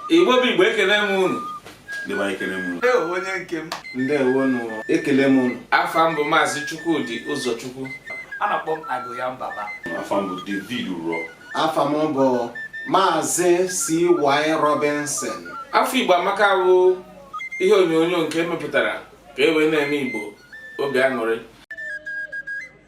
igbo bụ igbo ekele m unu dịwa ekele m unu onye nke m ndewo nụ ekele m unu afa m bụ maazị chukwudi ụzọchukwu a na-akpọ m agoya mbaba afa m bụ david uro afa m bụ maazị cy robinson afọ igbo amaka bụ ihe onyonyo nke e mepụtara ka e wee na-eme igbo obi aṅụrị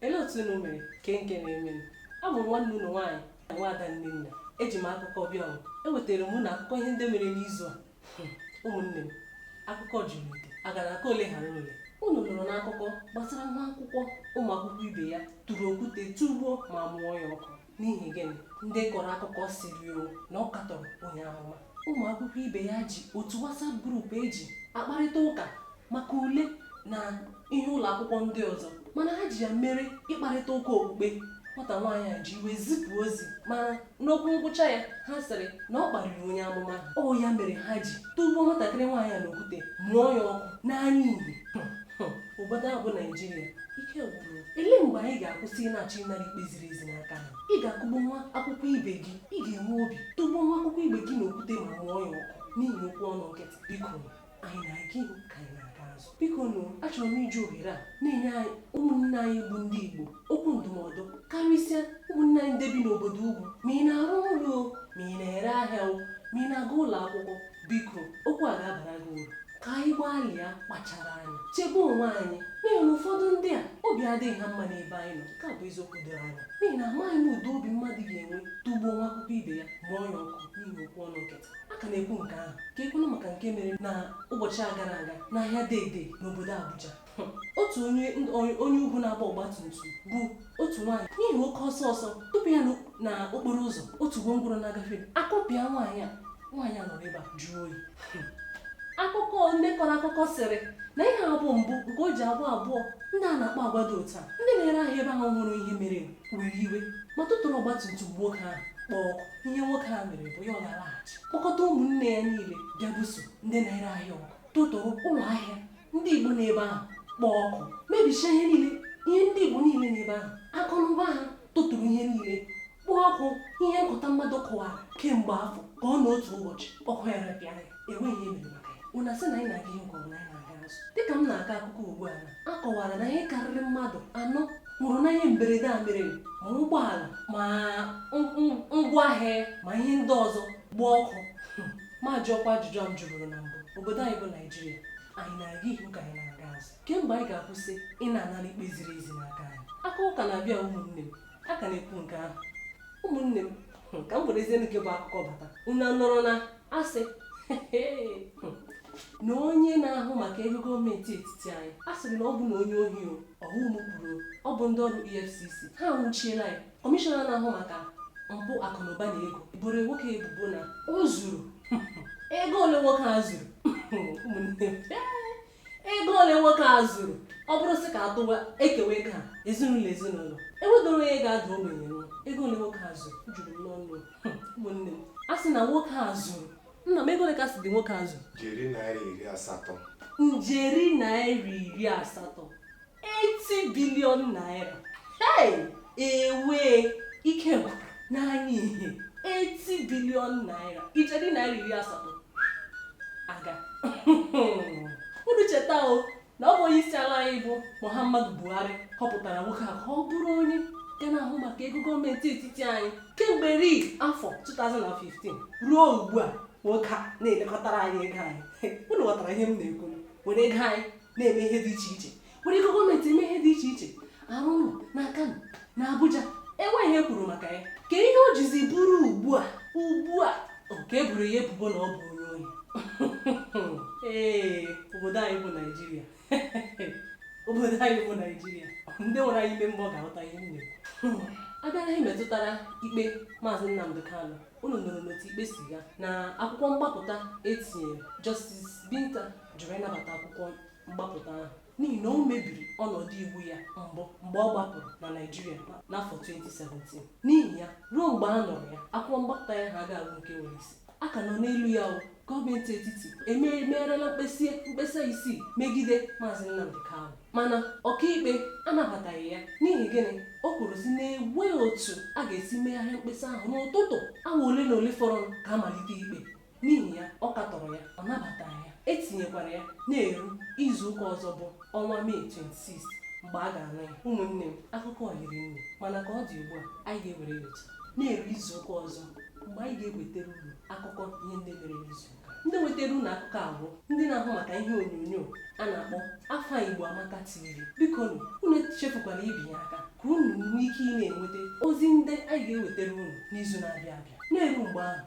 Elee otu unu mere kee nke na-emenụ? Abụ m nwanne unu nwaanyị na nwaada Nnenna. Eji m akụkọ bịa ọrụ. Ewetara m unu akụkọ ihe ndị mere n'izu a. Hmm, ụmụnne m, akụkọ juru ite. A gara aka ole ghara ole. Unu nụrụ n'akụkọ gbasara nwa akwụkwọ ụmụ akwụkwọ ibe ya tụrụ okwute tụgbuo ma mụọ ya ọkụ. n'ihi gịnị ndị kọrọ akụkọ sịrị o na ọ katọrọ onye amụma ụmụ akwụkwọ ibe ya ji otu WhatsApp group eji akparịta ụka maka ule na ihe ụlọ akwụkwọ ndị ọzọ mana ha ji ya mere ịkparịta ụka okpukpe nwata nwaanyị a ji iwe zipụ ozi mana n'okwu ngwụcha ya ha sịrị na ọ kparịrị onye amụma ọ ya mere ha ji tụgbuo nwatakịrị nwaanyị a n'okwute mụọ ya ọkụ n'anya ihe obodo a bụ naijiria ike gwụrụ elee mgbe anyị ga-akwụsị ịna-achọ ịnara ikpe ziri ezi n'aka ha ị ga-akụgbu nwa akwụkwọ ibe gị ị ga-enwe obi tụgbuo nwa akwụkwọ ibe gị n'okwute ma mụọ ya ọkụ n'ihi okwu ọnụ nkịtị biko anyị na-aga ihu ka anyị na-aga azụ biko nụ achọrọ m iji ohere a na-enye anyị ụmụnne anyị bụ ndị igbo okwu ndụmọdụ karịsịa ụmụnne anyị ndị bi n'obodo ugwu ma ị na-arụ ụlọ ma ị na-ere ahịa ma ị na-aga ụlọ akwụkwọ biko okwu a ga-abara gị uru ka anyị gbalịa kpachara anya chebe onwe anyị n'ihi na ụfọdụ ndị a obi adịghị ha mma n'ebe anyị nọ nke a bụ eziokwu doro anya n'ihi na amaghị m ụdị obi mmadụ ga-enwe tụgbuo nwa akwụkwọ ibe ya mụọ ya ọkụ n'ihi okwu ọnụ nkịtị a ka na-ekwu nke ahụ ka ekwuna maka nke mere na ụbọchị a gara aga n'ahịa Dei-Dei n'obodo Abuja otu onye onye ugwu na-agba ọgba tum tum bu otu nwaanyị n'ihi oke ọsọ ọsọ tụpụ ya na okporo ụzọ otu gwongworo na-agafe akụpịa nwaanyị a nwaanyị a nọrọ ebe a jụọ oyi akụkọ ndị kọrọ akụkọ sịrị na ihe a abụghị mbụ nke o ji abụ abụọ ndị a na-akpa agwa dị otu a ndị na-ere ahịa ebe ahụ hụrụ ihe mere were iwe ma tụtụrụ ọgba tum tum nwoke ahụ kpọọ ọkụ ihe nwoke a mere bụ ya ọ na-alaghachi kpọkọta ụmụnne ya niile bịa buso ndị na-ere ahịa ọgụ tụtụrụ ụlọ ahịa ndị Igbo n'ebe ahụ kpọọ ọkụ mebichaa ihe niile ihe ndị Igbo niile n'ebe ahụ akụ na ụba ha tụtụrụ ihe niile kpọọ ọkụ ihe nkụta mmadụ kụwara kemgbe afọ ka ọ na otu ụbọchị ọkụ ya repịa ya enweghị ihe mere maka ya unu asị na anyị na-aga ihu nke ọ bụ na anyị na-aga azụ dịka m na-akọ akụkọ ugbu a na a kọwara na ihe karịrị mmadụ anọ nwụrụ na ihe mberede a mere ma ụgbọala ma ngwaahịa ma ihe ndị ọzọ gbaa ọkụ ma jụọkwa ajụjụ m jụburu na mbụ obodo anyị bụ naijiria anyị na-aga ihu ka anyị na-aga azụ kee mgbe anyị ga-akwụsị ị na-anara ikpe ziri ezi n'aka anyị akụkọ na-abịa ụmụnne m a ka na-ekwu nke ahụ ụmụnne m hmm, ka m werezie nke bụ akụkọ bata unu nụrụ na a sị hmm, na onye na-ahụ maka ego gọọmenti etiti anyị a sịrị na ọ bụ na onye ohi o ọ bụghị m kwuru ọ bụ ndị ọrụ efcc ha nwụchiela ya Kọmishọna na-ahụ maka mpụ akụnụba na ego boro nwoke ebubo na o zuru ego ole nwoke a zuru ụmụnne m, ego ole nwoke a zuru ọ bụrụ sị ka atụwa ekewa ego a ezinụlọ ezinụlọ enwedịrọ onye ga-ada ogbenye nwa ego ole nwoke a zuru juru m n'ọnụ ụmụnne m a sị na nwoke a zuru nna m ego ole ka a sịdị nwoke a zuru njeri naira iri asatọ njeri naira iri asatọ 80 bilion naira hey ewe ike gwụrụ n'anya ihe 80 bilion naira ijeri naira iri asatọ agaa unu cheta o na ọ bụ onye isi ala anyị bụ muhammadu buhari họpụtara nwoke a ka ọ bụrụ onye ga na-ahụ maka ego gọọmenti etiti anyị kemgbe eri afọ 2015 ruo ugbu a nwoke a na-elekọtara anyị ego anyị unu ghọtara ihe m na-ekwu were ego anyị na-eme ihe dị iche iche were ego gọọmenti eme ihe dị iche iche arụ ụlọ na Kano na Abuja enweghị ihe e kwuru maka ya kee ihe o jizi bụrụ ugbu a ugbu a ka e boro ya ebubo na ọ bụ onye ohi ee obodo anyị bụ Naijiria obodo anyị bụ Naijiria ndị nwere anya ime mmụọ ga-aghọta ihe m na-ekwu a bịa na ihe metụtara ikpe maazị Nnamdi Kanu unu nụrụnụ otu ikpe si gaa na akwụkwọ mgbapụta e tinyere Justice Binta jụrụ ịnabata akwụkwọ mgbapụta ahụ n'ihi na o mebiri ọnọdụ iwu ya mbụ mgbe ọ gbapụrụ na Naịjirịa n'afọ 2017 n'ihi ya ruo mgbe a nụrụ ya akwụkwọ mgbapụta ya ahụ agaghị abụ nke nwere isi a ka nọ n'elu ya o gọọmenti etiti emegharịala mkpesa mkpesa isii megide maazị Nnamdi Kanu mana ọkaikpe anabataghị ya n'ihi gịnị o kwuru sị na enweghị otu a ga-esi megharịa mkpesa ahụ n'ụtụtụ awa ole na ole fọrọ ka a malite ikpe N'ihi ya, ọ katọrọ ya, ọ nabataghị ya, e tinyekwara ya na-eru izu ụka ọzọ bụ ọnwa Mee 26 mgbe a ga-anụ ya. Ụmụnne m, akụkọ hiri nne, mana ka ọ dị ugbu a, anyị ga-ewere ya otu a na-eru izu ụka ọzọ mgbe anyị ga-ewetara unu akụkọ ihe ndị mere n'izu ụka. Ndị wetara unu akụkọ a bụ ndị na-ahụ maka ihe onyonyo a na-akpọ Afọ Igbo Amaka TV. Bikonụ, unu echefukwala ibinye aka ka unu nwee ike ị na-enweta ozi ndị anyị ga-ewetara unu n'izu na-abịa abịa. Na-eru mgbe ahụ,